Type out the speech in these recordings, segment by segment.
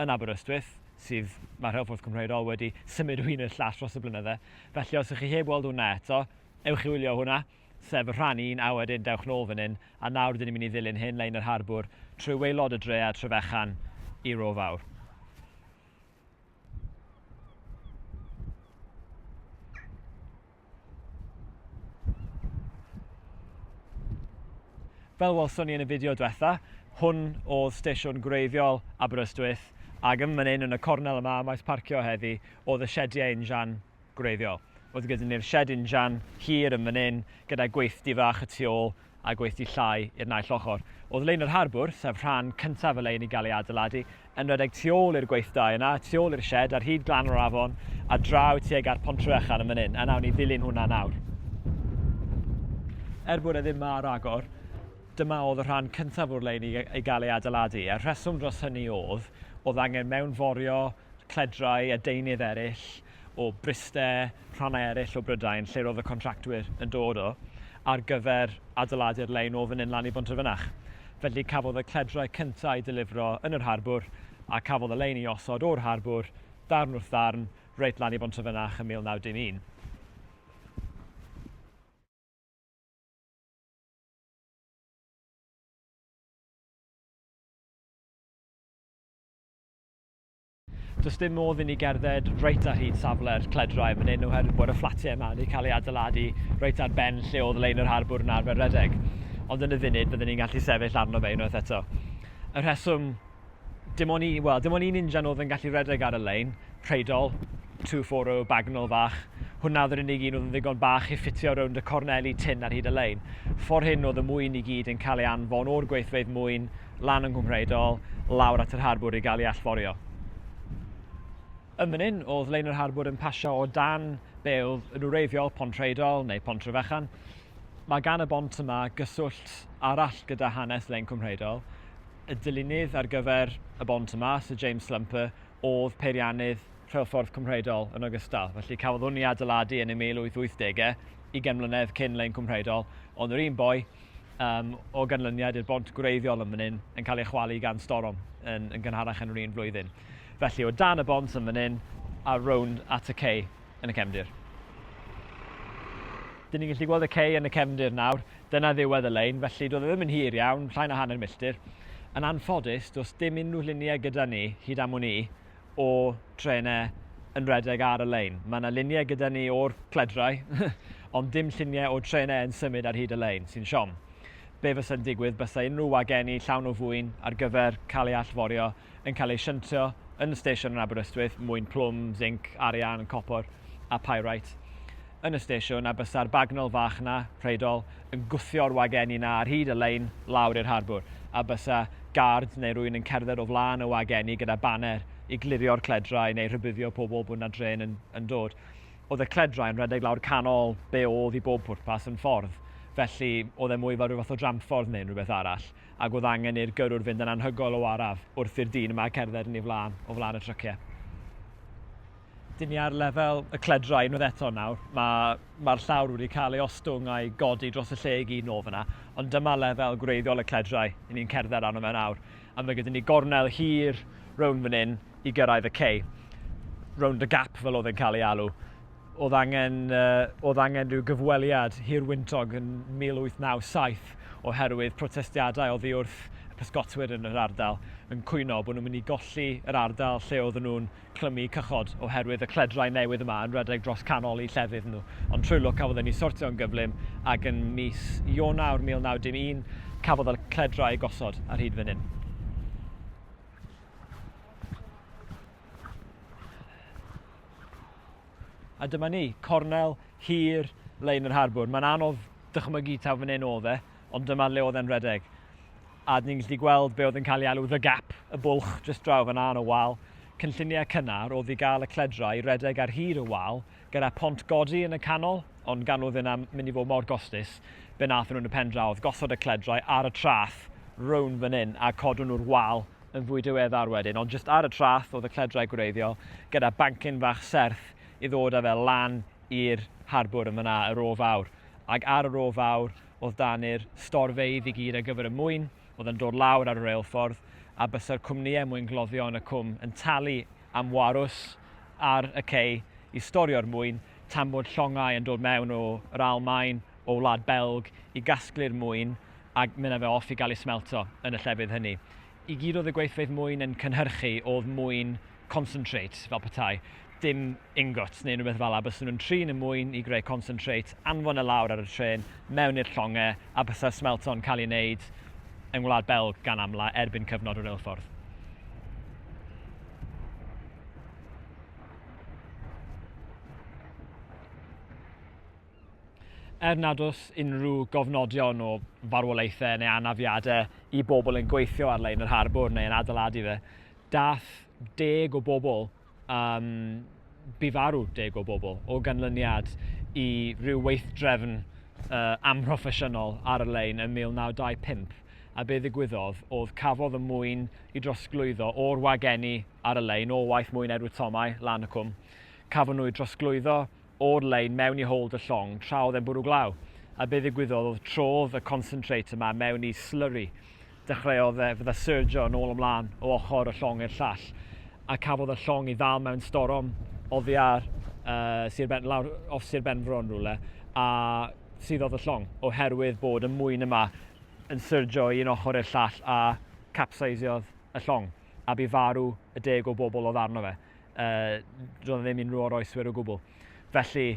yn Aberystwyth, sydd, mae Rheilffordd Cwmrhau Rôl wedi symud o un i'r llall dros y blynydde. Felly os ych chi heb weld hwnna eto, ewch i wylio hwnna, sef y rhan un, a wedyn dewch nôl fan hyn, a nawr dyn ni'n mynd i ddilyn hyn lein yr harbwr trwy waelod y dre a Trefechan i Ro Fawr. Fel welson ni yn y fideo diwetha, hwn oedd stesiwn gwreiddiol Aberystwyth, ac yn fan hyn yn y cornel yma ym maes parcio heddi oedd y siediau injan gwreiddiol. Oedd gyda ni'r sied injan hir yn fan hyn gyda gweithdy fach y tu ôl a gweithdy llai i'r naill ochr. Oedd Lein yr Harbwr, sef rhan cyntaf y lein i gael ei adeiladu, yn rhedeg tu ôl i'r gweithdai yna, tu ôl i'r sied, ar hyd glan yr afon, a draw tuag at Pontryechan yn fan hyn, a nawn ni ddilyn hwnna nawr. Er bod e ddim ma ar agor, dyma oedd y rhan cyntaf o'r lein i, i gael ei adeiladu, a'r rheswm dros hynny oedd, oedd angen mewnforio cledrau a deunydd eraill, o Bryste, rhannau eraill o Brydain, lle roedd y contractwyr yn dod o, ar gyfer adeiladu'r lein o fan hyn lan i Bontrefynach. Felly cafodd y cledrau cyntaf eu delifro yn yr harbwr, a cafodd y lein ei osod o'r harbwr, darn wrth ddarn, reit lan i Bontrefynach yn 1911. Does dim modd i ni gerdded reit ar hyd safle'r cledrau yn fan hyn oherwydd bod y fflatiau yma wedi cael eu adeiladu reit ar ben lle oedd lein yr harbwr yn arfer redeg. Ond yn y funud byddwn ni'n gallu sefyll arno fe unwaith eto. Y rheswm, dim ond un, wel, dim ond un injan oedd yn gallu redeg ar y lein, Preidol, 240 Bagnol fach. Hwnna oedd yr unig un oedd yn ddigon bach i ffitio rownd y corneli tin ar hyd y lein. Ffordd hyn oedd y mwyn i gyd yn cael ei anfon o'r gweithfeydd mwyn lan yng Nghwmhraedol, lawr at yr harbwr i gael ei allforio. Yn fan hyn, oedd lein yr harbwr yn pasio o dan be oedd yn wreiddiol Pontrheidol neu Pontrefechan. Mae gan y bont yma gyswllt arall gyda hanes lein Cwmhraedol. Y dylunydd ar gyfer y bont yma, Sir James Slumper, oedd peiriannydd rheilffordd Cwmhraedol yn ogystal. Felly cafodd hwn i adeiladu yn y 1880au, ugain mlynedd cyn lein Cwmhraedol, ond yr un boi um, o ganlyniad i'r bont gwreiddiol yn fan hyn yn cael ei chwalu gan storom yn, yn gynharach yn yr un flwyddyn. Felly o dan y bont yn fan hyn a rownd at y cei yn y cefndir. Dyn ni'n gallu gweld y cei yn y cefndir nawr, dyna ddiwedd y lein, felly doedd e ddim yn hir iawn, llain o hanner milltir. Yn anffodus, does dim unrhyw lluniau gyda ni, hyd am wn i, o trenau yn redeg ar y lein. Mae yna luniau gyda ni o'r pledrau, ond dim lluniau o trenau yn symud ar hyd y lein, sy'n siom. Be fysa'n digwydd bysa unrhyw wagenni llawn o fwyn ar gyfer cael ei allforio yn cael ei shuntio yn y stesion yn Aberystwyth, mwyn plwm, zinc, arian, copr a pyrite. yn y stesiwn a bysa'r bagnol fach 'na, Rheidol, yn gwthio'r wagenni 'na ar hyd y lein lawr i'r harbwr, a bysa gard neu rywun yn cerdded o flaen y wagenni gyda baner i glirio'r cledrau neu rhybuddio pobl bod 'na drên yn yn dod. Oedd y cledrau yn rhedeg lawr canol be' oedd i bob pwrpas yn ffordd, felly oedd e mwy fel rhyw fath o dramffordd neu unrhywbeth arall, ac oedd angen i'r gyrrwr fynd yn anhygoel o araf wrth i'r dyn yma cerdded yn ei flaen, o flaen y trycie. Dyn ni ar lefel y cledrau unwaith eto nawr. Mae, mae'r llawr wedi cael ei ostwng a'i godi dros y lle i gyd nôl fyna, ond dyma lefel gwreiddiol y cledrau i ni'n cerdded arno fe nawr, a mae gyda ni gornel hir rownd fan hyn i gyrraedd y cei. Rownd y gap fel oedd e'n cael ei alw. Oedd angen, uh, oedd angen rhyw gyfweliad hir wyntog yn 1897 oherwydd protestiadau oddi wrth y pysgotwyr yn yr ardal yn cwyno bod nhw'n mynd i golli yr ardal lle oedden nhw'n clymu cychod oherwydd y cledrau newydd yma yn rhedeg dros canol eu llefydd nhw, ond trwy lwc cafodd hynny sortio yn gyflym ac yn mis Ionawr 1911 cafodd y cledrau eu gosod ar hyd fan hyn. A dyma ni, cornel hir lein yr harbwr. Mae'n anodd dychmygu taw fan hyn oedd e, ond dyma le oedd e'n rhedeg. a ni'n gallu gweld be oedd yn cael ei alw The Gap, y bwlch jyst draw fan'na yn y wal. Cynlluniau cynnar oedd i gael y cledra i redeg ar hyd y wal, gyda pont godi yn y canol, ond gan oedd hynna mynd i fod mor gostus, be wnaethon nhw yn y pen draw oedd gosod y cledrau ar y traeth rownd fan hyn a codwn nhw'r wal yn fwy diweddar wedyn, ond jyst ar y traeth oedd y cledrau gwreiddiol, gyda bancyn fach serth i ddod â fe lan i'r harbwr yn fan'na, y Ro Fawr. Ac ar y Ro Fawr, oedd dan i'r storfeydd i gyd ar gyfer y mwyn oedd yn dod lawr ar y reilffordd a bysa'r cwmnïau mwyn gloddio yn y cwm yn talu am warws ar y cei i storio'r mwyn tan bod llongau yn dod mewn o yr Almaen, o Wlad Belg i gasglu'r mwyn a mynd â fe off i gael ei smelto yn y llefydd hynny. I gyd oedd y gweithfeydd mwyn yn cynhyrchu oedd mwyn concentrate, fel petai. dim ingots neu rhywbeth fel 'na, bysen nhw'n trin y mwyn i greu concentrate, anfon e lawr ar y trên, mewn i'r llonge, a bysa smelto'n cael ei wneud yng Ngwlad Belg gan amla erbyn cyfnod y reilffordd. Er nad oes unrhyw gofnodion o farwolaethau neu anafiadau i bobl yn gweithio ar lein yr harbwr neu yn adeiladu fe, dath deg o bobl um, bu farw deg o bobl o ganlyniad i ryw weithdrefn uh, amhroffesiynol ar y lein yn 1925 a be ddigwyddodd oedd cafodd y mwyn i drosglwyddo o'r wagenni ar y lein o waith mwyn Edward Tomau, lan y cwm. Cafon nhw i drosglwyddo o'r lein mewn i hold y llong tra oedd e'n bwrw glaw, a be ddigwyddodd oedd trodd y concentrate yma mewn i slurry. Dechreuodd e fydda surgio yn ôl ymlaen o ochr y llong i'r llall, a cafodd y llong i ddal mewn storom oddi ar uh, Sir Ben, lawr off Sir Benfro yn rhywle, a suddodd y llong, oherwydd bod y mwyn yma yn surgio i un ochr i'r llall a capsaisiodd y llong, a bu farw y deg o bobl oedd arno fe. uh, roedd ddim unrhyw oroeswyr o gwbl. Felly,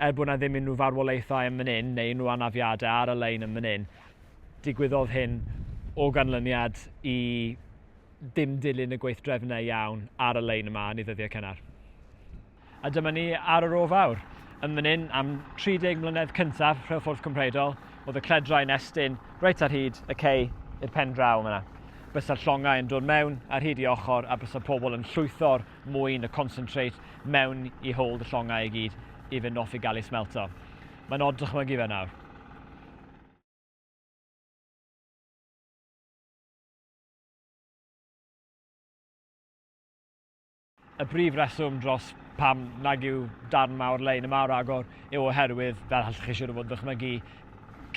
er bod yna ddim unrhyw farwolaethau yn mynd un neu unrhyw anafiadau ar y lein yn mynd un, digwyddodd hyn o ganlyniad i dim dilyn y gweithdrefnau iawn ar y lein yma yn ei ddyddiau cynnar. A dyma ni ar yr o fawr. Yn mynd un am 30 mlynedd cyntaf rheilffordd Cymreidol, Oedd y cledrau'n estyn reit ar hyd y cei i'r pen draw yma. Bysa'r llongau yn dod mewn ar hyd i ochr a bysa pobl yn llwytho'r mwyn, y concentrate, mewn i hold y llongau i gyd i fynd off i gael ei smelto. Mae'n od dychmygu fe nawr. Y brif reswm dros pam nag yw darn mawr lein yma o ragor yw oherwydd, fel allwch chi siwr o fod yn dychmygu,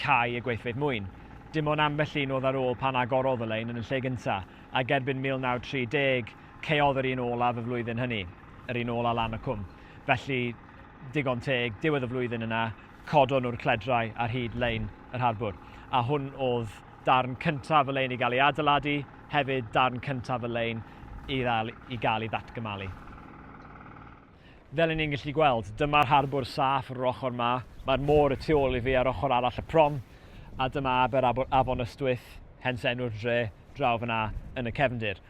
cau y gweithfeydd mwyn. Dim ond ambell un oedd ar ôl pan agorodd y lein yn y lle gyntaf, ac erbyn 1930 caeodd yr un olaf y flwyddyn hynny, yr un ola lan y cwm. Felly, digon teg, diwedd y flwyddyn yna, codon nhw'r cledrau ar hyd lein yr harbwr. A hwn oedd darn cyntaf y lein i gael ei adeiladu, hefyd darn cyntaf y lein i ddal i gael ei ddatgymalu. Fel ni'n gallu gweld, dyma'r harbwr saff yr ochr ma, mae'r môr y tu ôl i fi ar ochr arall y prom, a dyma aber Afon Ystwyth, hens enw'r dre draw fyna yn y cefndir.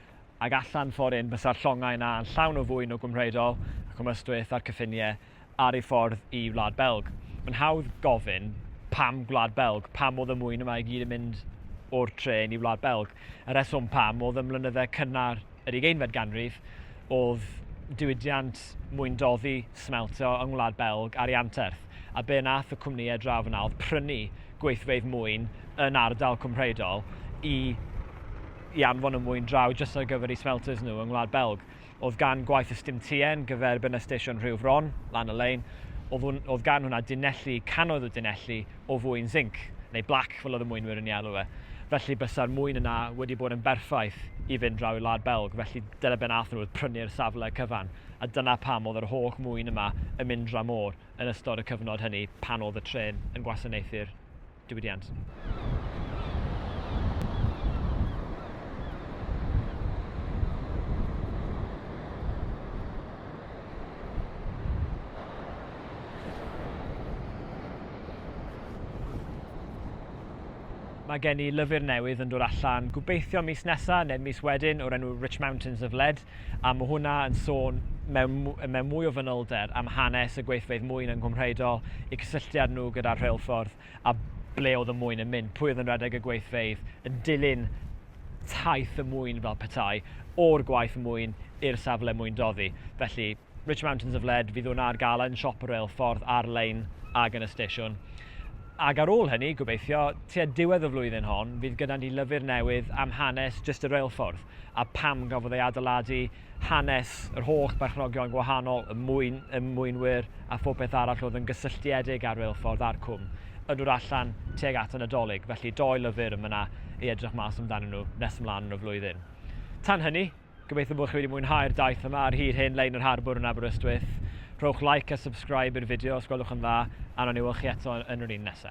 Ac allan ffordd un, bysa'r llongau yna yn llawn o fwyn o Gwmhreidol ac o Ystwyth a'r cyffiniau ar ei ffordd i Wlad Belg. Mae'n hawdd gofyn, pam Gwlad Belg? Pam oedd y mwyn yma i gyd yn mynd o'r trên i Wlad Belg? Y rheswm pam oedd ym mlynydde cynnar yr ugeinfed ganrif oedd diwydiant mwyndoddi smeltio yng Ngwlad Belg ar ei anterth, a be nath y cwmnïau draw fan'na oedd prynu gweithfeydd mwyn yn ardal Cwmhreidol i i anfon y mwyn draw jyst ar gyfer eu smelters nhw yng Ngwlad Belg. Oedd gan gwaith y stim TN gyfer bynna stesion Rhiwfron, lan y lein, oedd gan hwnna dunelli, cannoedd o dunelli, o fwyn zinc, neu blac fel oedd y mwynwyr yn ei alw e. Felly bysa'r mwyn yna wedi bod yn berffaith i fynd draw i'r wlad Belg, felly dyna be nath nhw oedd prynu'r safle cyfan, a dyna pam oedd yr holl mwyn yma yn mynd dra môr. yn ystod y cyfnod hynny pan oedd y trên yn gwasanaethu'r diwydiant. Mae gen i lyfr newydd yn dod allan, gobeithio mis nesa neu mis wedyn, o'r enw Rich Mountains of Lead. A mae hwnna yn sôn mewn, mewn mwy o fanylder am hanes y gweithfeydd mwyn yng Nghwmhreiddo, y cysylltiad nhw gyda'r rheilffordd a ble oedd y mwyn yn mynd, pwy oedd yn rhedeg y gweithfeydd, yn dilyn taith y mwyn fel petai, o'r gwaith mwyn i'r safle mwyn doddi. Felly, Rich Mountains of Lead, fydd hwnna ar gael yn siop y reilffordd ar-lein ac yn y stesiwn. Ac ar ôl hynny, gobeithio, tua diwedd y flwyddyn hon, fydd gyda ni lyfr newydd am hanes jyst y reilffordd. a pam gafodd ei adeiladu, hanes yr holl berchnogion gwahanol, y mwyn, y mwynwyr a phopeth arall oedd yn gysylltiedig â'r reilffordd a'r cwm, yn dod allan tuag at y Nadolig, felly dou lyfr yn mynna i edrych mas amdanyn nhw nes ymlaen yn y flwyddyn. Tan hynny, gobeithio bod chi wedi mwynhau'r daith yma ar hyd hen lein yr harbwr yn Aberystwyth. Rhowch like a subscribe i'r fideo os gwelwch yn dda, a wnawn ni weld chi eto yn yr un nesa.